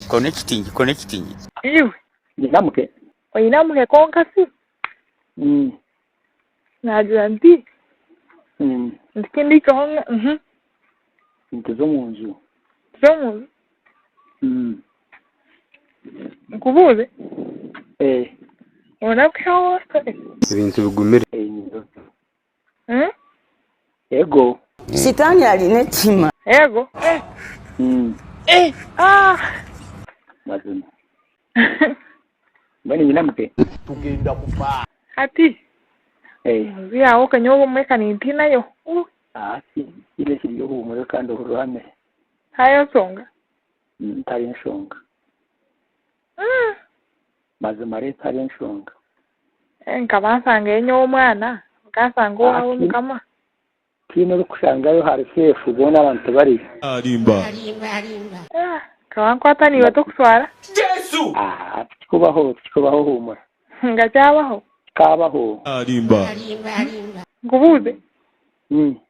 Kona ekitingye, kona ekitingye. Iwe. Nyina muhe. Oine amuhe konka si? Naagira nti, Nti ku ndiicweho ngu, uhum. Nituza omu nju. Nituza omu nju. Nkubuuze. Ee. Noonaguza owootwire? Ebintu bigumire. Ee, nyine otu. Ego. Sitaani aine ekihima. Ego. Mazima. Mbwenu nyine amate. Tugenda kufa. Hati. Enju yaawe oka nyowe obumwe ka nintiinayo. Hati. Tihaine ekiri ohuumure kandi ohurire ohamire. Hariho enshonga? Tihariho nshonga. Mazima reeta abe enshonga. Eh, nkaba nsangayo nyowe omwana nkasanga owaawe Ati- mukama tiine orikushangayo hari seefu boona abantu tibariyo Arimba. Ah, nkaba nkwata niiwe tokuswara Ah, tikikubaho tikikubaho huumura nga kyabaho kikaabaho Arimba. nkubuuze Mm.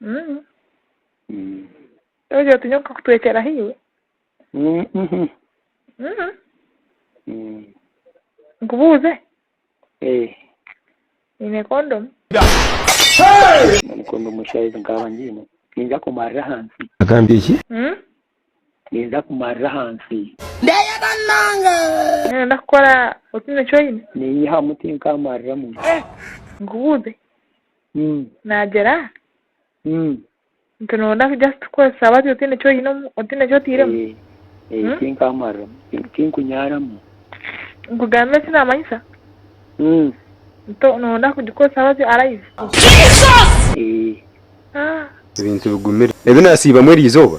Mm. Mm. Togira oti nyoka kutwekyera hiwe. Mm, mhm. Mm. Mm. Nkubuuze, Eh, nyine kondomu? none kondomu eshaha ezi nkaba ngiine ninza kumarira ahansi. Agambye ki? Mm. Ninza kumarira aha nsi. Ndeyega nange. Noyenda kukora otiine eki oine. Ninyihamu tinkamariramu. Nkubuuze, nagyera nti noyenda just kukoresa bati otiine eki oine otiine eki oteiremu? Eeh tinkamariramu tinkunyaaramu. Nkugambire eki namanyisa? Nto noyenda kugikoresa bati alive? Eeh ebintu bigumire ebi nasiibamu eriizooba.